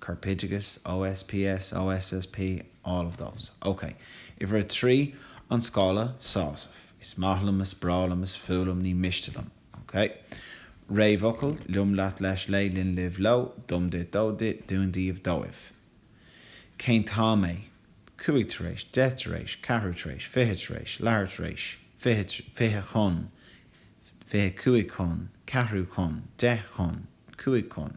Corpoideachais, OSPS, OSSP, all of those. Ok. Uimhir a trí, an scála sásaimh. Is maith liom, is breá liom, is fuath liom, ní miste liom. Ok. Réamhfhocal, liom leat leis léi linn libh leo dom duit dó di dúinn daoibh dóibh. Cén t-am é? cúig tar éis, deich tar éis, ceathrú tar éis, fiche tar éis, leathuair tar éis, fiche, fiche chun, fiche cúig chun, ceathrú chun, deich chun, cúig chun.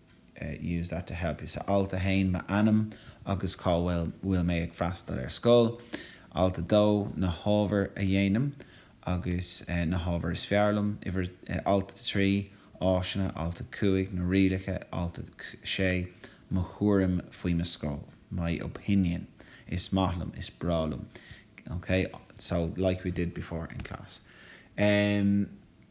use that to help you. So alt 1, m'ainm agus cá bhfuil mé ag freastal ar scoil. Alt 2, na hábhair a dhéanaim agus na hábhair is fearr liom. Uimhir, alt 3, áiseanna, alt 5, na rialacha, alt 6, mo thuairim faoi mo scoil, my opinion, is maith liom, is breá liom, okay? So, like we did before in class.